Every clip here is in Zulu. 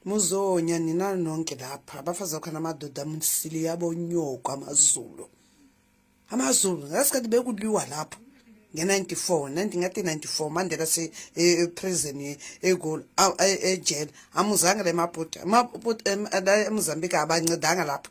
muzonya nina nonke lapha abafazi bakhona amadoda msili yabo nyoko amazulu amazulu ngasikhathi bekuliwa lapho nge-94 ndingathi 94 mandela seprison e, egoli ejele amuzange le mabhuti emozambique abancedanga lapho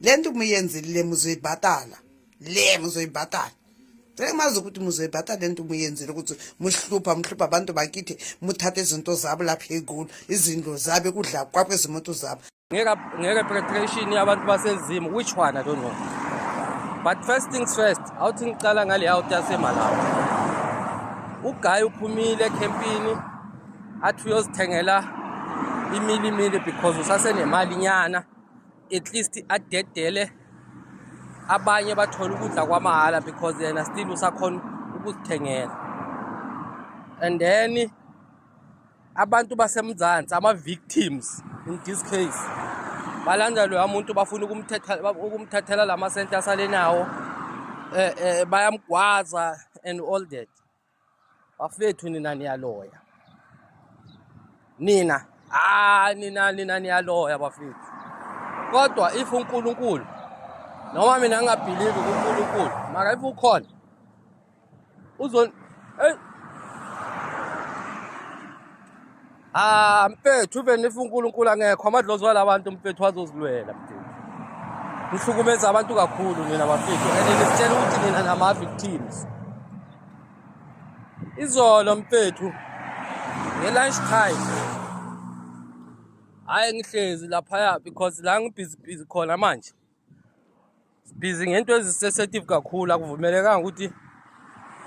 le nto umuyenzile le muzoyibhatala le muzoyibhatala sekumazi ukuthi muzoyibhatala le nto umuyenzile ukuthi muhlupha muhlupha abantu bakithi muthathe izinto zabo lapha egulu izindlo zabo kudla kwakho izimoto zabo ngeke preparation yabantu basezimu which one i don't know but first things first awuthi ngicala ngale out yasemalawi ugayi uphumile ekhempini athi uyozithengela imilimili because usasenemali nyana at least adedele abanye bathole ukudla kwamahhala because yena still usakhona ukuzithengela and then abantu basemzansi ama-victims in this case balanda loya muntu bafuna ukumthathela la masente asalenawo um eh, um eh, bayamgwaza and all that bafethu nina niyaloya nina hayi nina nina niyaloya bafethu kodwa if unkulunkulu noma mina ngingabhilivi kunkulunkulu mara if ukhona uzon eyi Ah mfethu even if uNkulunkulu angekho amadlozi wala bantu mfethu azozilwela mfethu. Nihlukumeza abantu kakhulu nina bafethu and nisitshela ukuthi nina nama victims. Izolo mfethu nge lunch time. Hayi ngihlezi lapha ya because la ngibhizi bhizi khona manje. busy ngento ezisensitive kakhulu akuvumelekanga ukuthi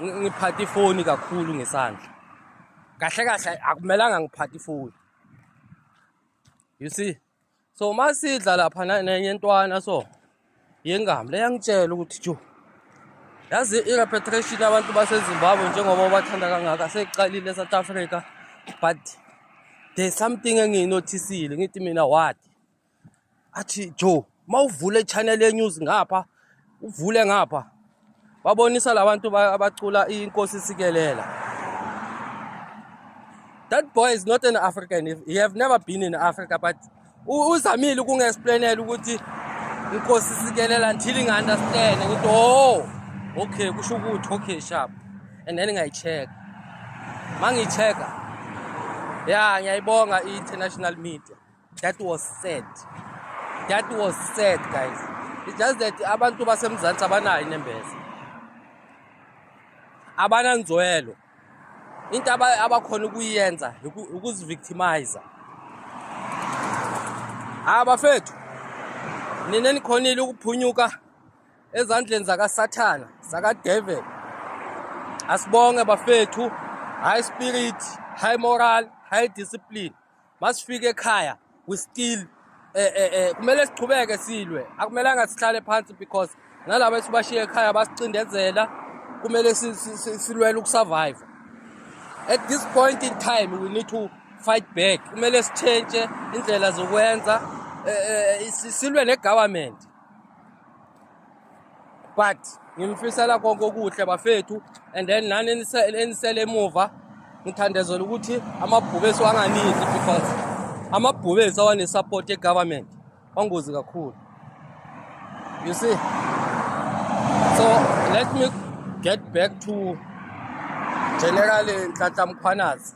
ngiphathe ifoni kakhulu ngesandla kahle kahle akumelanga ngiphathe ifoni you see so uma sidla lapha nenye ntwana so yengami leyangitshela ukuthi jo yazi i-repetition abantu basezimbabwe njengoba bathanda kangaka seyiqalile esouth africa but there's something engiyinothisile ngithi mina what athi Joe mawuvule channel ye news ngapha uvule ngapha babonisa labantu abacula inkosi sikelela that boy is not an african he have never been in africa but uzamile ukungi-explainela ukuthi inkosi sikelela until ingi-understand ngithi o oh, okay kusho ukuthi okay sharp and then ngayi-check ma ngiyi-checka ya ngiyayibonga i-international media that was sad that was sad guys it's just that abantu basemzansi abanayo inembeza abananzwelo into abakhona ukuyenza ukuzivictimizer ha bafethu nina nikhonile ukuphunyuka ezandleni zakasathana zakadeveli asibonge bafethu high spirit high moral high discipline masifike ekhaya we still eh eh eh kumele siqhubeke silwe akumelanga sihlale phansi because nalabo esibashiye ekhaya basicindezela kumele silwele ukusurvive at this point in time we need to fight back kumele sitshentshe indlela zokwenza eh, eh, eh, silwe ne-government but ngimfisela konke okuhle bafethu and then nani enisele emuva ngithandezela ukuthi amabhube esiwanganizi because amabhube esawanesupport egovernment wangozi kakhulu you see so let me get back to general ntlahla mkhwanazi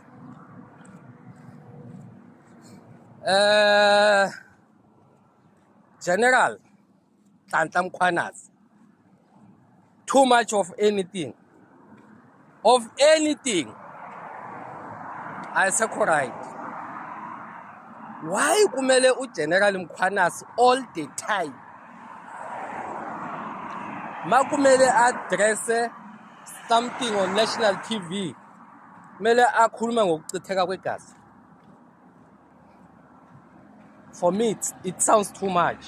um uh, general Nhlanhla Mkhwanazi. Too much of anything. Of anything. Ayisekho right. Why kumele uGeneral Mkhwanazi all the time? Makumele address something on national TV. Kumele akhulume ngokuchitheka kwegazi. For me, it, it sounds too much.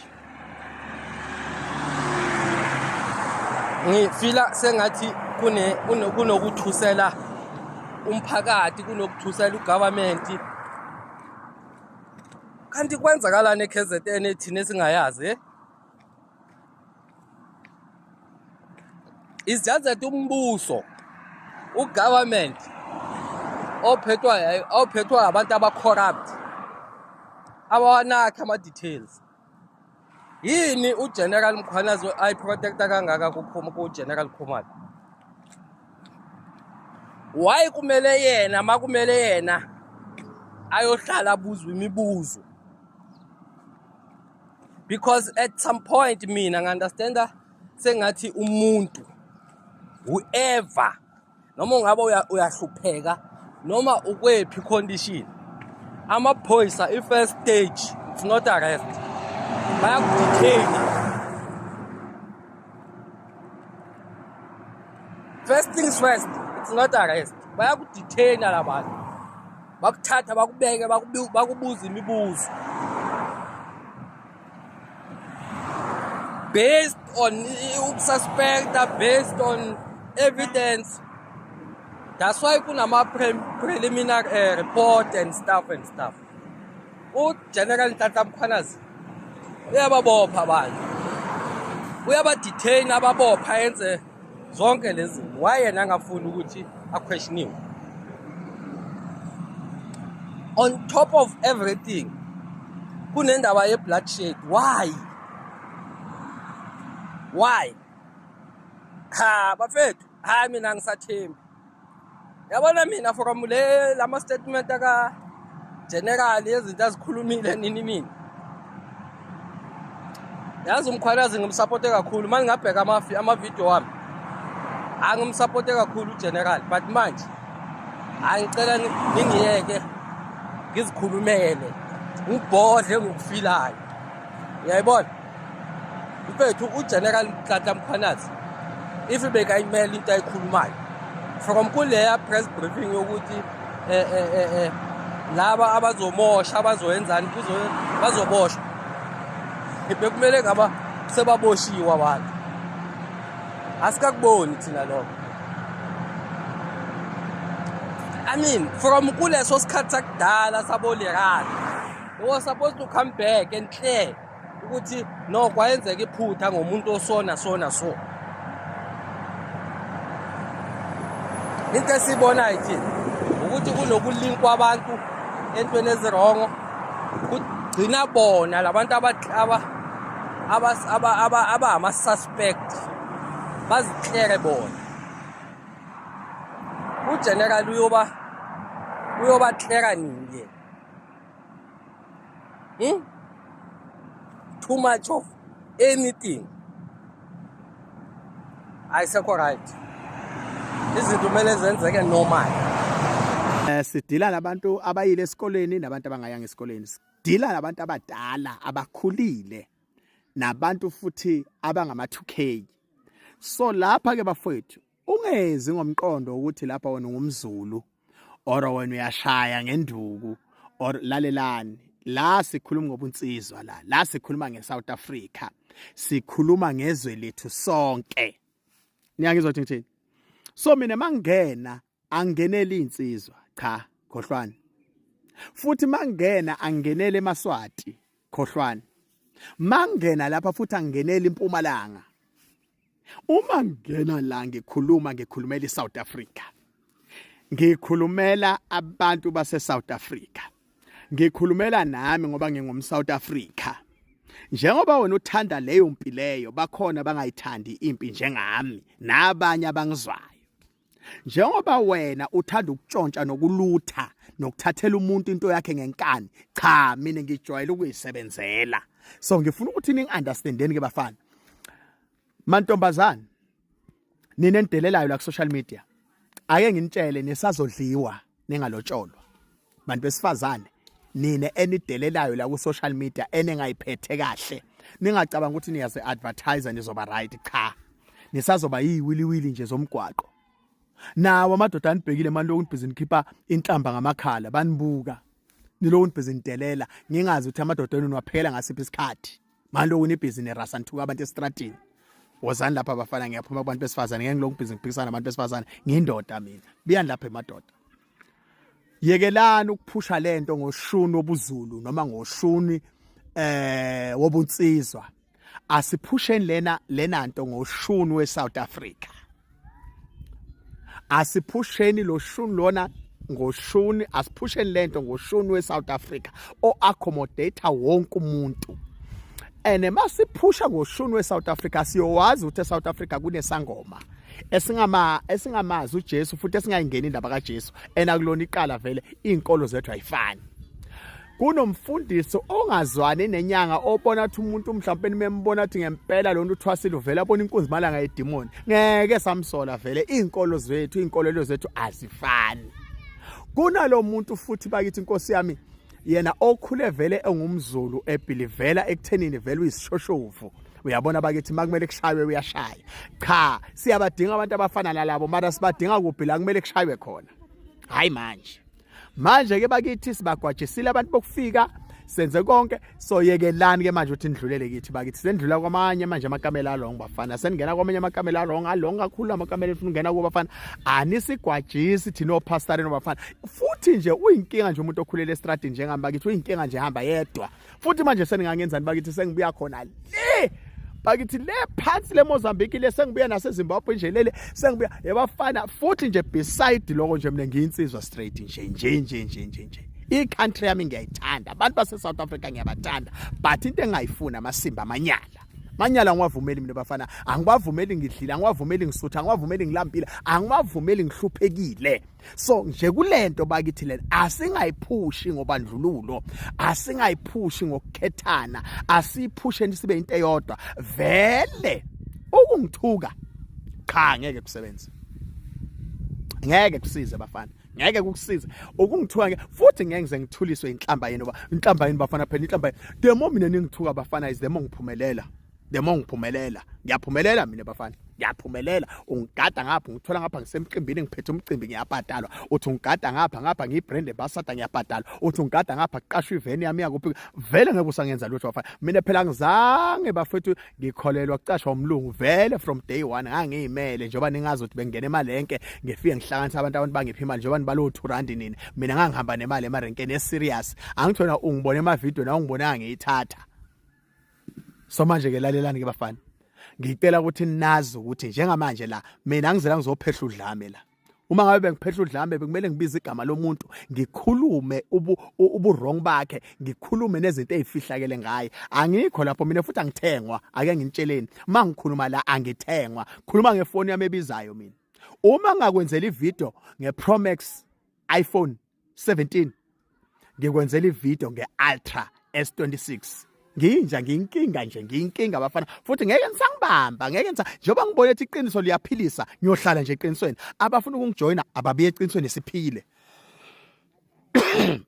Ngifila sengathi kune kunokuthusela umphakathi kunokuthusela ugovernment kanti kwenzakalani eKZN thina singayazi eh? is just that umbuso ugovernment ophethwa ophethwa abantu abacorrupt abawanakha ama-details yini ugeneral mkhwanazi ayiprotecta kangaka kugeneral khumalo why kumele yena ma kumele yena ayohlala abuzwe imibuzo because at some point mina ngi-understanda sengathi umuntu whoever noma ungabe uyahlupheka noma ukwephi condition amaphoyisa i-first stage it's not arrest bayakudethina first things first it's not arrest bayakudethina la bantu bakuthatha bakubeke bakubuza imibuzo based on ukususpecta based on evidence that's why kunama-preliminary uh, eh, report and stuff and stuff ugeneral nhlahla mkhwanazi uyababopha abantu uyabaditheyina ababopha enze zonke lezi wayena angafuni ukuthi aquestioniwe on top of everything kunendaba ye-blood shade why why ha bafethu hayi mina ngisathembi yabona mina from le lama statement aka general yezinto azikhulumile nini mina yazi umkhwanazi ngimsupporte kakhulu manje ngabheka amafi amavideo wami angimsupporte kakhulu ugeneral but manje angicela ningiyeke ngizikhulumele ngibhodle ngokufilayo uyayibona mfethu ugeneral mtlatla mkhwanazi if bekayimela into ayikhulumayo from kuleya press briefing yokuthi um eh, um eh, um eh, laba abazomosha abazoyenzani bazoboshwa bekumele ngaba sebaboshiwe abantu asikakuboni thina lokho i mean from kuleso sikhathi sakudala sabolerana it was supposed to come back and clear ukuthi no kwayenzeka iphutha ngomuntu osona sona so into esiyibonayo thina ukuthi kunokulinkwa abantu entweni ezirongo kugcina bona labantu abangama-suspect bazihlere bona ugeneral uyoba uyobahleka nini yena Hmm? Too much of anything. Ayisekho right. Izinto kumele zenzeke normal. Eh sidila labantu abayile esikoleni nabantu abangayanga esikoleni. Sidila labantu abadala abakhulile nabantu futhi abangama 2K. So lapha ke bafowethu Ungezi ngomqondo ukuthi lapha wena ngumZulu or wena uyashaya ngenduku or lalelani la sikhuluma ngobunsizwa la la sikhuluma ngeSouth Africa sikhuluma ngezwe lethu sonke niyangizwa ukuthi ngithini so mina mangena angenele insizwa cha khohlwana futhi mangena angenele emaswati khohlwana mangena lapha futhi angenele impumalanga Uma ngena la ngikhuluma ngikhulumela iSouth Africa. Ngikhulumela abantu base South Africa. Ngikhulumela nami ngoba ngingum South Africa. Njengoba wena uthanda leyo mpi leyo bakhona bangayithandi impi njengami nabanye abangizwayo. njengoba wena uthanda ukutshontsha nokulutha nokuthathela umuntu into yakhe ngenkani cha mina ngijwayele ukuyisebenzela so ngifuna ukuthi ningi-understandeni ke bafana mantombazane nina enidelelayo la ku-social media ake nginitshele nisazodliwa ningalotsholwa bantu besifazane nina enidelelayo la ku social media enengayiphethe kahle ningacabanga ukuthi niyaze advertiser nizoba right cha nisazoba yiwiliwili nje zomgwaqo nawo amadoda anibhekile manje lokhu nibhizi nikhipha inhlamba ngamakhala banibuka nilokhu nibhizi nidelela ngingazi ukuthi amadoda enu niwaphela ngasiphi isikhathi Malo unibhizi nerasa nithuka abantu estradini. Wozani lapha abafana ngiyaphuma kubantu besifazane ngeke ngilokhu bhizi ngiphikisana nabantu besifazane ngindoda mina. Buyani lapha emadoda. Yekelani ukuphusha lento ngoshuni obuzulu noma ngoshuni eh wobunsizwa. Asiphusheni lena lena nto ngoshuni weSouth Africa. asiphusheni lo shuni lona ngoshuni asiphusheni lento ngoshuni weSouth Africa o accommodate wonke umuntu ene masiphusha ngoshuni weSouth Africa siyowazi ukuthi eSouth Africa kunesangoma esingama esingamazi uJesu futhi esingayingeni indaba kaJesu ena kulona iqala vele izinkolo zethu ayifani kunomfundisi ongazwani nenyanga obona ukuthi umuntu mhlawumbe nimembona ukuthi ngempela lo nto uthwasile uvele abona inkunzi malanga yedimoni ngeke samsola vele iy'nkolo zethu iy'nkolelo zethu azifani kunalo muntu futhi bakithi inkosi yami yena okhule vele engumzulu ebhilivela ekuthenini vele uyisishoshovu uyabona bakithi makumele kushaywe uyashaya cha siyabadinga abantu abafana nalabo mara sibadinga kuphi la kumele kushaywe khona hayi manje manje ke bakithi sibagwajisile abantu bokufika senze konke soyekelani ke manje uthi nidlulele kithi bakithi sendlula kwamanye manje amakamela along bafana seningena kwamanye amakamela along along kakhulu amakamela efuna ungena kuba bafana anisigwajisi thina opastor nobafana futhi nje uyinkinga nje umuntu okhulele estradini njengami bakithi uyinkinga nje hamba yedwa futhi manje seningangenzani bakithi sengibuya khona le bakithi le phansi le Mozambique le sengibuya nase Zimbabwe nje lele sengibuya yabafana futhi nje beside lokho nje mina ngiyinsizwa straight nje nje nje nje nje nje i-country yami ngiyayithanda abantu base-south africa ngiyabathanda but into engayifuni amasimba amanyala manyala angiwavumeli mina bafana angiwavumeli ngidlile angiwavumeli ngisutha angiwavumeli ngilampile angiwavumeli ngihluphekile so nje kulento bakithi lena asingayiphushi ngobandlululo asingayiphushi ngokukhethana asiphusheni sibe into eyodwa vele ukungithuka cha ngeke kusebenze ngeke kusize bafana ngeke kukusiza ukungithuka ngeke futhi ngeke ngize ngithuliswe inhlamba yenu ba inhlamba yenu bafana phela inhlamba the more mina ningithuka bafana is the more ngiphumelela the more ngiphumelela ngiyaphumelela mina bafana ngiyaphumelela ungigada ngapha ngithola ngapha ngisemcimbini ngiphethe umcimbi ngiyabhadalwa uthi ungigada ngapha ngapha ngiyibrand ambassador ngiyabhadalwa uthi ungigada ngapha kuqashwa iveni yami yakuphi vele ngeke usangenza lutho bafana mina phela ngizange bafethu ngikholelwa kucashwa umlungu vele from day one ngangiyimele njengoba ningazi ukuthi bengena emalenke ngifike ngihlanganisa abantu abantu bangiphi imali njengoba nibalo 2 rand nini mina ngangihamba nemali emarenkeni eserious angithola ungibona emavideo na ungibona ngiyithatha so manje ke lalelani ke bafana ngicela ukuthi nazi ukuthi njengamanje la mina ngizela ngizophehla udlame la uma ngabe bengiphehla udlame bekumele ngibize igama lomuntu ngikhulume ubu uburong bakhe ngikhulume nezinto ezifihlakele ngaye angikho lapho mina futhi angithengwa ake nginitsheleni mangikhuluma la angithengwa khuluma ngefoni yami ebizayo mina uma ngakwenzela ivideo ngePromax iPhone 17 ngikwenzela ivideo nge-ultra s26 nginja ngiyinkinga nje ngiyinkinga bafana futhi ngeke ngisangibamba ngeke ngisa njengoba ngibona ukuthi iqiniso liyaphilisa ngiyohlala nje eqinisweni abafuna ukungijoyina ababiye eqinisweni siphile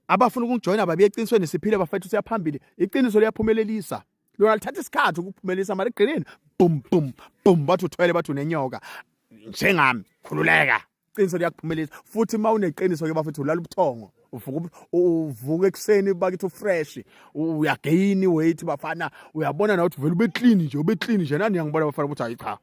abafuna ukungijoyina ababiye eqinisweni siphile bafethu siyaphambili iqiniso liyaphumelelisa lona lithatha isikhathi ukuphumelelisa mali egrinini bum bum bum bathi uthwele bathi unenyoka njengami khululeka iqiniso liyakuphumelisa futhi uma uneqiniso ke bafethu ulala ubuthongo uvuka uvuka ekuseni bakithi ufresh uyagain weight bafana uyabona na ukuthi vele ube clean nje ube clean nje nani ngiyangibona bafana ukuthi hayi cha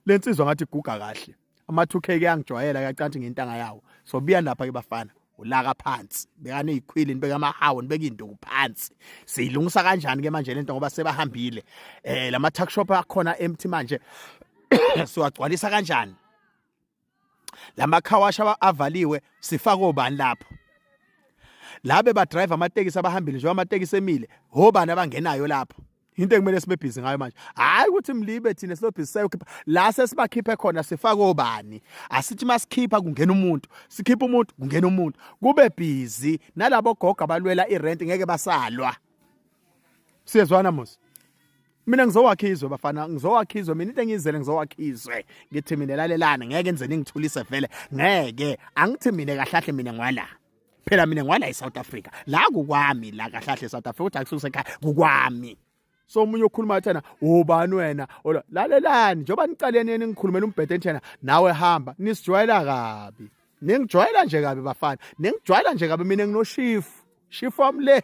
le nsizwa ngathi iguga kahle ama 2k ke angijwayela kacanthi ngentanga yawo so biya lapha ke bafana ulaka phansi bekane ikhwili nibeka amahawo nibeka induku phansi siyilungisa kanjani ke manje lento ngoba sebahambile eh lama tuck shop akhona empty manje siwagcwalisa kanjani lama car wash avaliwe sifaka obani lapho labe ba driver amatekisi abahambile njengoba amatekisi emile hobani abangenayo lapho into ekumele sibebhizi ngayo manje hayi ukuthi mlibe thina silobhizisayo khipha la sesibakhiphe khona sifake obani asithi masikhipha kungena umuntu sikhipha umuntu kungena umuntu kube busy nalabo gogo abalwela irent ngeke basalwa siyezwana mos mina ngizowakha izwe bafana ngizowakha izwe mina into engiyizele ngizowakha izwe ngithi mina lalelana ngeke nze ningithulise vele ngeke angithi mina kahlahle mina ngwala phela mina ngwala eSouth Africa la kukwami la kahlahle eSouth Africa uthi akususe ekhaya kukwami so umunye okhuluma athana ubani wena ola lalelani njengoba niqaleni yena ngikhulumela umbhede nthena nawe hamba nisijwayela kabi ningijwayela nje kabi bafana ningijwayela nje kabi mina nginoshifu shifu wami le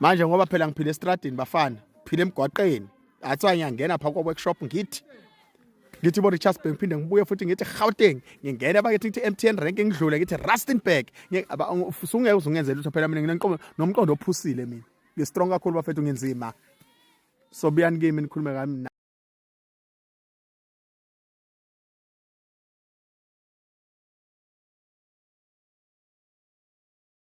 manje ngoba phela ngiphile estradini bafana phile emgwaqeni athiwa ngiyangena pha kwa workshop ngithi ngithi bo Richards Bank phinde ngibuye futhi ngithi Gauteng ngingena bakithi ngithi MTN rank ngidlule ngithi Rustenburg usungeke uzungenzela lutho phela mina nginenqomo nomqondo ophusile mina ngi strong kakhulu bafethu ngenzima so buyani kimi nikhulume kami